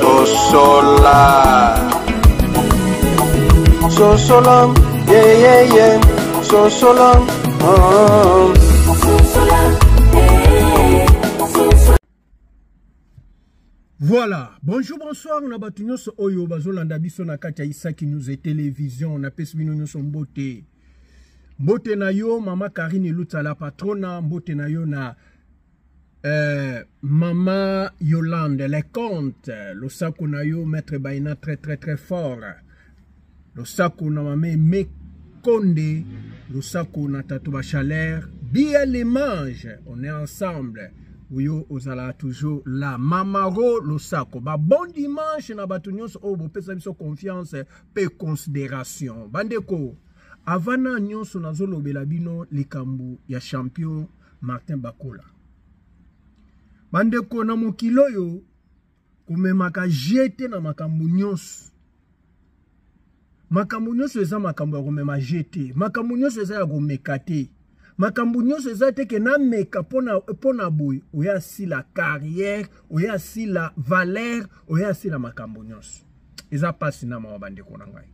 sosola sosola yeyeye sosola voilà bonjour bonsoir na bato nyonso oyo bazolanda biso na kati ya isaki news e television napesi bino nyonso mbote mbote na yo mama karine elutsala patrona mbote na yo na Euh, maman Yolande, les comptes, le saco na yo, maître Baina, très très très fort. Le saco na mamé, mais Konde, le saco na Tatouba Chalère, bien les mange, on est ensemble. Oyo ozala toujours la mamaro losako ba bon dimanche na bato nyonso oyo bopesa biso confiance mpe considération bandeko avant na nyonso nazolobela bino likambo ya champion Martin Bakola. Bandeko na mokili oyo komemaka je te na makambo nyonso. Makambo nyonso eza makambo ya komema je te. Makambo nyonso eza ya komeka te. makambo nyonso eza te ke nameka mpo na boye oyo asila carrière oyo asila valeur oyo asila makambo nyonso eza mpasi na mawa bandeko na ngai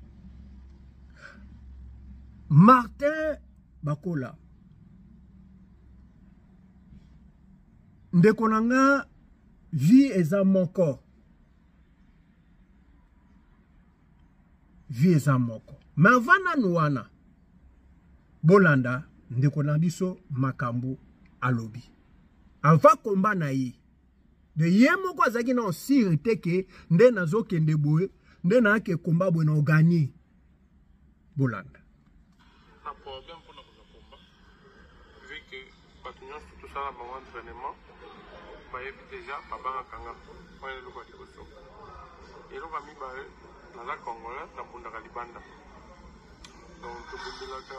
martin bakola ndeko na nga vie eza moko vie eza moko me ava nanu wana bolanda ndeko na biso makambo alobi ava komba na ye de ye moko azalaki na osire te ke nde nazokende boye nde nayake komba boye na oganie bolanda na problème mpona kozwa komba vu que bato nyonso tosala bango entraînement bayebi déjà babangaka nga wana eloko ya liboso eloko ya mibale naza congolais nabundaka libanda donc tobundelaka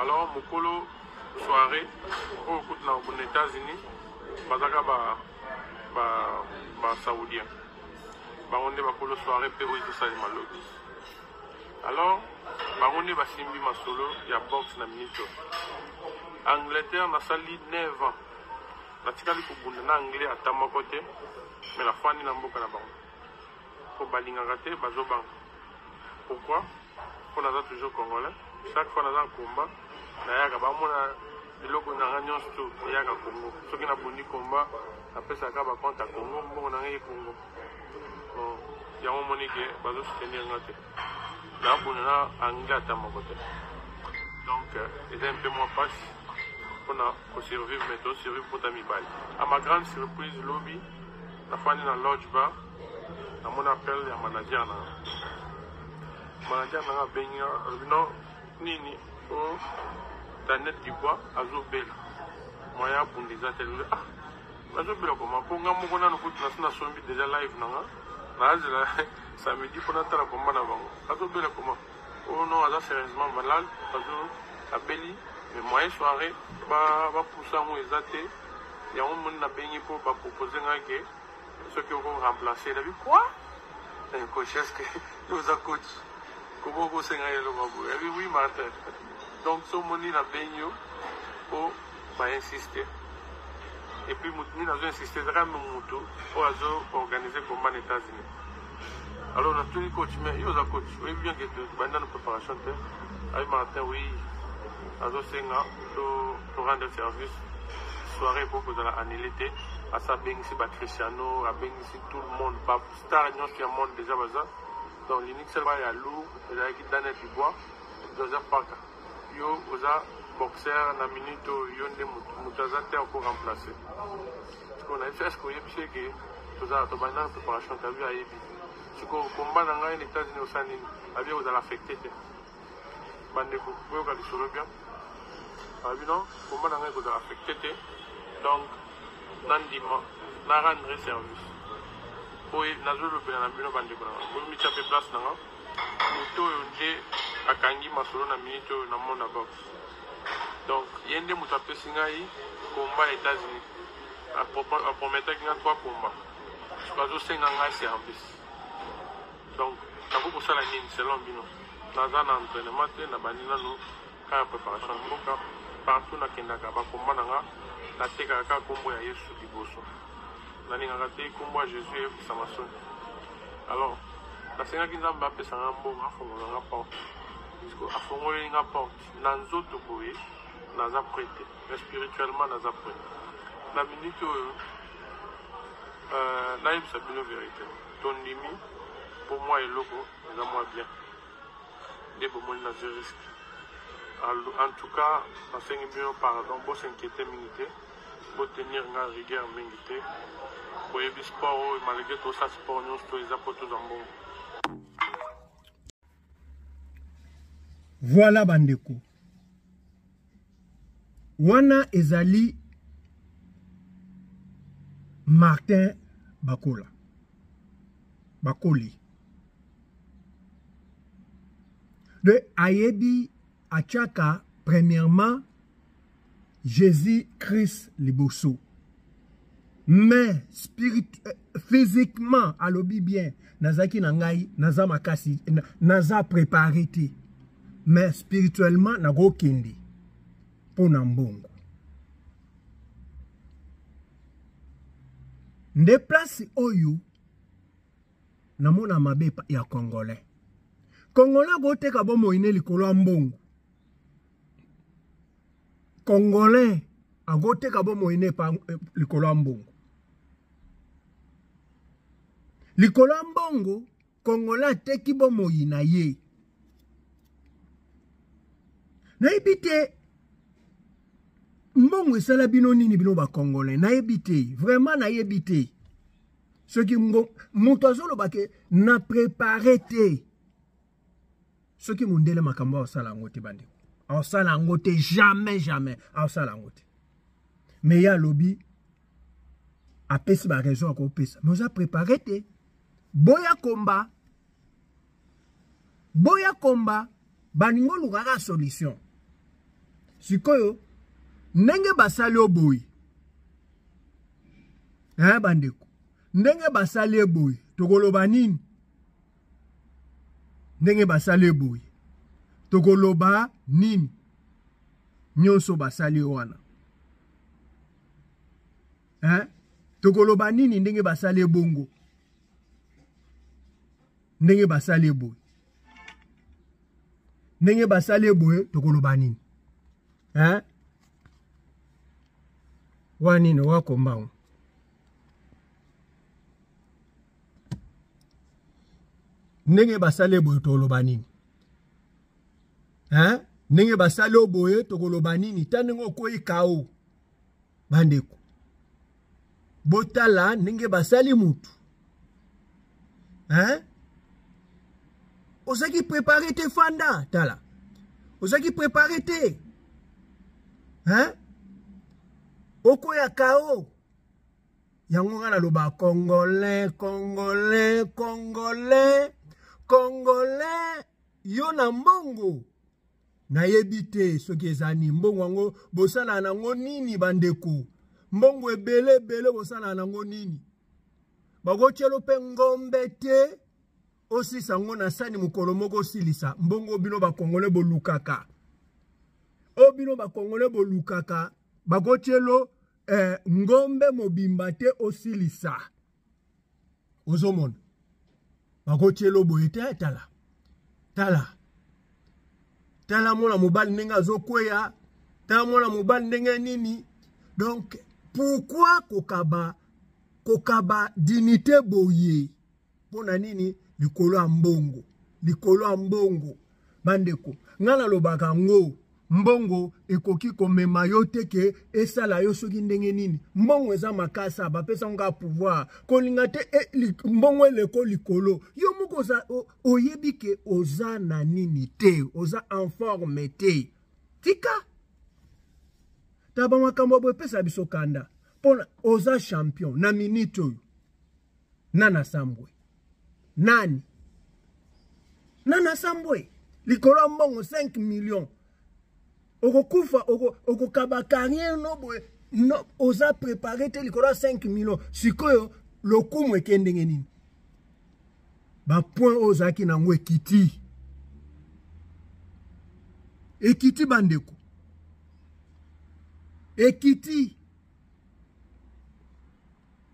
alors mokolo soirée oyo kutu na na états-unis bazalaka basaoudien bango nde bakolo soirée mpe oyo ezosalema lobi alors bango nde basimbi masolo ya boxe na minito angleterre nasali 9 ans natikali kobunda na anglais ata moko te me nafandi na mboka na bango mpo balingaka te bazobanga pourquoi po naza toujours congolais chaque fois naza na combat nayaka bamona biloko na nga nyonso to eyaka congo soki nabundi combat napesaka bacompte ya congo mbongo na nga ye congo yango omoni ke bazo soutenir nga te nabunda na anglais ata moko te donc euh, eza mpe mwa mpasi mpona kosurvivre me tosurvivre mpota mibali a ma grande surprise lobi nafandi na lodge bar namoni appel ya manager na manager nanga abengi nga alobi no nini o oh, daniel dibwa azobela moyen abunda eza te lobi ah nazobela koma mpo nga moko nano kutu nasi nasombi deja live na nga nazela samedi mpo natala komba na bango azobela koma o oh, no aza sérieusement malade azo abeli mais moyen soirée bapusa yango eza te yango moni nabengi mpo bapropose nga ke soki oko remplacer na bi quoi eh coach est-ce que yo za coach comment ko senga yelo ba boye eh oui Martin donc so moni na benyo po ba insister et puis mutu nini azo insister ezaka mutu oyo azo organiser combat na États-Unis alors na tuni coach mais yo za coach oyebi bien que banda na préparation te ayi Martin oui azo senga to To rendre service soiree ekoki kozala annule te asi abengisi ba cristiano abengisi tout le monde ba star nyonso ya monde déjà baza donc linixel ba ya lou ezalaki daniel dubois joseph paka yo oza boxer na minute oyo yo nde moto aza te oko remplace sikoyo nayebi eske oyebisi eke tozala tobandaka préparation tabi ayebi sikoyo komba na ngai na états-unis osa nini abi ekozala affecte te bandeko boyoka lisolo bien alobi non koma na ngai ekozala affecte te donc nandima na rendre service oyo nazolobela na bino bandeko na ngai bomitya mpe place na ngai moto oyo nde akangi masolo na minute oyo na mona box donc ye nde moto apesi ngai komba ya états-unis aprometaki ngai twa komba soki azosenga ngai service Donc, nakoki kosala nini selon bino? Naza na entraînement te, nabandi nanu ka ya preparation mboka. Partout nakendaka ba combat na nga, natekaka ka kombo ya Yesu liboso. Nalingaka te kombo ya Jesus eyokisama soni. Alors, nasengaki Nzambe apesa nga mbongo, afongola nga porte. Puisque afongoleli nga porte, na nzoto boye, naza prêt te. Mais spirituellement, naza prêt. Na minute oyo, euh, nayebisa bino verite. Tondimi po mua eloko eza mua bien nde bomoni na zwi risque. En tout cas nasengi bino pardon, bo s'inquiéter mingi te, bo tenir nga rigueur mingi te. Boyebi sport oyo malgré tosa sport nyonso to eza po tozwa mbongo. Voilà bandeko. Wana ezali Martin Bakola. Bakoli. De ayebi achaka premièrement Jésus-Christ liboso. Mais spirit, physiquement alobi bien nazalaki na ngai naza makasi naza prépare te mais spirituellement nakokende mpo na mbongo nde place oyo namona mabe ya congolais congolais akoteka bomoi ne likolo ya mbongo congolais akoteka bomoi ne epa eh, likolo ya mbongo likolo ya mbongo congolais ateki bomoi na ye nayebi te mbongo esala bino nini bino bacongolais nayebi te vraiment nayebi te soki moto azoloba ke na prepare te soki mundele makambo aosala yango te bandeko aosala yango te jamais jamais aosala yango te me ye alobi apesi baraison ya kopesa me oza prépare te boya komba boya komba balingi olukaka solution sikoyo ndenge basali yo boye eh bandeko ndenge basali ye boye tokoloba nini ndenge basali eboye tokoloba nini nyonso basali wana hein? tokoloba nini ndenge basali ebongo ndenge basali eboye ndenge basali eboye tokoloba nini hein? wa nini wakombango ndenge basali boye toloba nini hein ndenge basali yo boye tokoloba nini ta ndenge okwei kao bandeko botala ndenge basali mutu hein ozalaki prepare te fanda tala ozalaki prepare te hein okoya kao yango nga naloba congolais congolais congolais congolais yo na mbongo nayebi te soki eza nini mbongo yango bosalaka nango nini bandeko mbongo ebele ebele bosalaka nango nini bakotyelo mpe ngombe te osisa yango na sani mokolo moko osilisa mbongo bino bakongole bolukaka o bino bakongole bolukaka bakotyelo eh, ngombe mobimba te osilisa ozomona bakotyelo boye te tala tala tala mwana mobali ndenge azokweya tala mwana mobali ndenge nini donc pourkui kokaba kokaba dinite boye mpo na nini likolo ya mbongo likolo ya mbongo bandeko ngai nalobaka yango mbongo ekoki komema yo te ke esala yo soki ndenge nini mbongo eza makasa bapesa ngo kaka pouvoir kolinga te e, li, mbongo eleko likolo yo moko oza oyebi ke oza na nini te oza en forme te tika ta bamakambo boepesa biso kanda mpona oza champion na minute oyo nana sambwe nani nana sambwe likolo ya mbongo 5 million okokufa okokaba oko carrière no boye no, oza prépare te likolo ya 5 million sikoyo lokumu eke ndenge nini bapoint oyo ozalaki na yango ekiti ekiti bandeko ekiti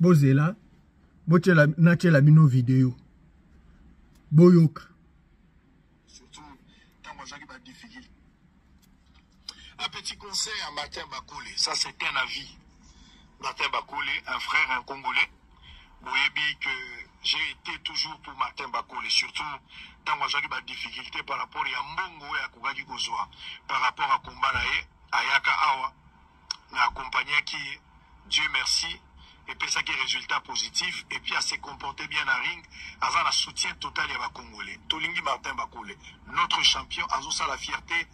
bozela botyela natyela bino video boyoka Un petit conseil à Martin Bakole, ça c'est un avis. Martin Bakole, un frère, un Congolais, Boyebi que j'ai été toujours pour Martin Bakole, surtout tant que j'ai des difficultés par rapport à Mbongo et à Kougaki Gozoa, par rapport à Kumbalaye, Ayaka Awa, na accompagnaki ye dieu merci epesaki résultat positif et puis ase comporte bien na ring aza na soutien total ya bacongolais tolingi martin bakule notre champion azosala fierté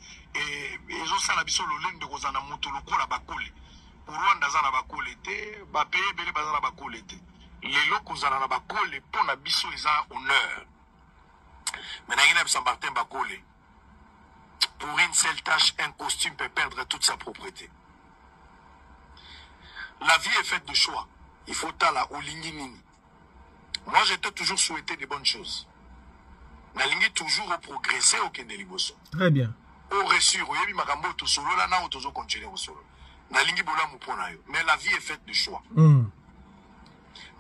ezosala biso lolenge de kozala na moto lokola bakule rwanda aza na bakule te bapeye ebele baza na bakule te lelo kozala na bakule mpo na biso eza honneur me nangi na bisa martin bakule Pour une seule tâche, un costume peut perdre toute sa propreté. La vie est faite de choix. Il faut tala ou nini. Moi, je t'ai toujours souhaité des bonnes choses. nalingi toujours oprogresse okende liboso très bien oresur oyebi makambo oyo tosolola nao tozo continue kosolola nalingi bolamu mpo na yo mais la vie est faite de choix mm.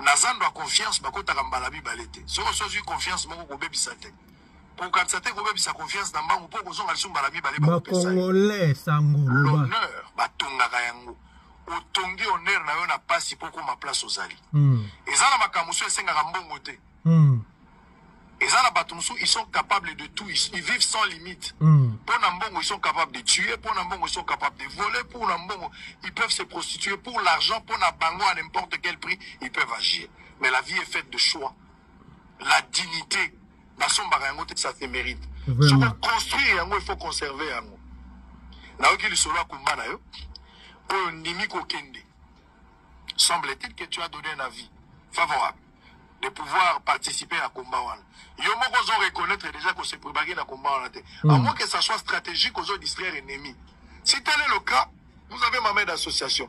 na zando ya confiance bakotaka mbala mibale te soki osozwi confiance moko kobebisa te kokatisa te kobebisa confiance na mbangu mpo kozonga lisusu mbala mibale bakongole sango l'honneur batongaka yango otongi honneur na yo na mpasi mpo okoma place ozali hmm. eza na makambo mosusu esengaka mbongo te hmm. eza na bato mosusu ils sont capables de tout ils vivent sans limite hmm. mpo na mbongo ils sont capables de tuer mpo na mbongo ils sont capables de voler mpo na mbongo ils peuvent se prostituer pour l'argent mpo na bango à n'importe quel prix ils peuvent agir mais la vie est faite de choix la dignité nasombaka yango te ça se mérite soki oconstruire yango il faut conserver yango nayoki lisolo ya kumba na yo oyo ndimi kokende semble-t-il que tu as donné un avis favorable de pouvoir participer à combat wana yo moko ozo reconnaître déjà que c'est probable na combat wana te mm. à moins que ça soit stratégique ozo distraire ennemi si tel est le cas vous avez ma main d'association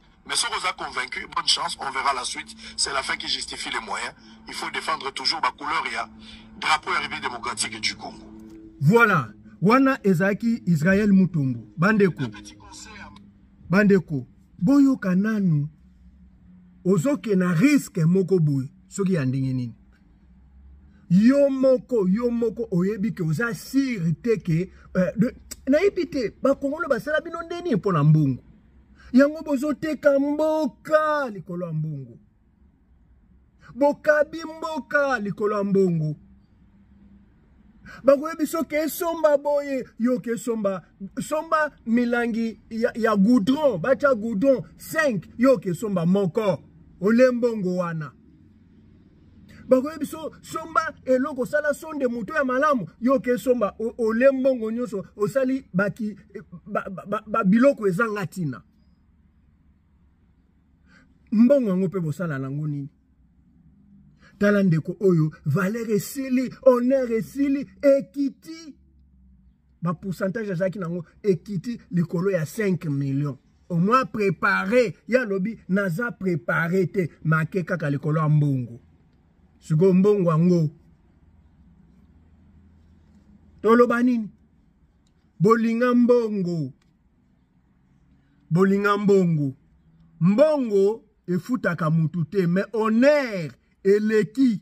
Mais soki oza convaincu, bonne chance, on verra la suite. C'est la fin qui justifie les moyens. Il faut défendre toujours ma couleur, il y a drapeau et République démocratique du Congo. Voilà. Wana ezaki Israël Mutombo. Bandeko. Bandeko. Boyo kananu. Ozoke na risque moko boyo. Soki ya ndenge nini. Yo moko, yo moko oyebi ke oza siri te ke. Euh, nayebi te. Bakongolo basala bino ndeni mpo na mbongo. yango bozoteka mboka likolo ya mbongo bokabi mboka likolo ya mbongo bakoyebi soki esomba boye yoka esomba somba milangi ya, ya goudron batya goudron 5 yoka esomba moko ole mbongo wana bakoye biso somba eloko osala sonde moto ya malamu yo oke somba ole mbongo nyonso osali baki babiloko ezanga ntina mbongo yango mpe bosala nango nini tala ndeko oyo valeur esili honneur esili ekiti bapourcentage azalaki nango ekiti likolo ya 5 millions au moins prépare ye alobi naza prépare te make kaka likolo ya mbongo sikoyo mbongo yango toloba nini bolinga mbongo bolinga mbongo mbongo efutaka mutu te mais honneur eleki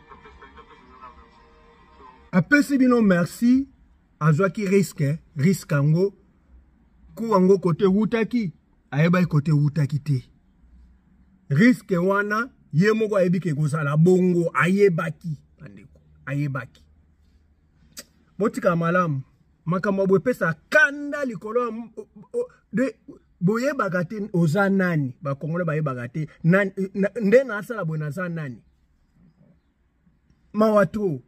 apesi bino merci azwaki riske riske yango ku yango kote ewutaki ayebaki kote ewutaki te riske wana ye moko ayebi ke ekozala bongo ayebaki bandeko ayebaki botika malamu makambo boye epesa kanda likolo ya boyebaka te oza nani bakongole bayebaka te nde nasala boye naza nani mawa trop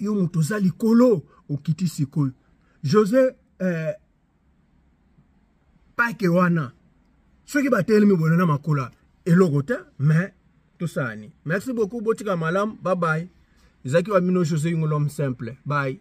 yo moto oza likolo okiti sikoyo josé eh, pake wana soki batelemi bono na makola eloko te mais tosala nini merci beaucoup botika malamu babaye ezalaki wa bino josé yingolom simple baye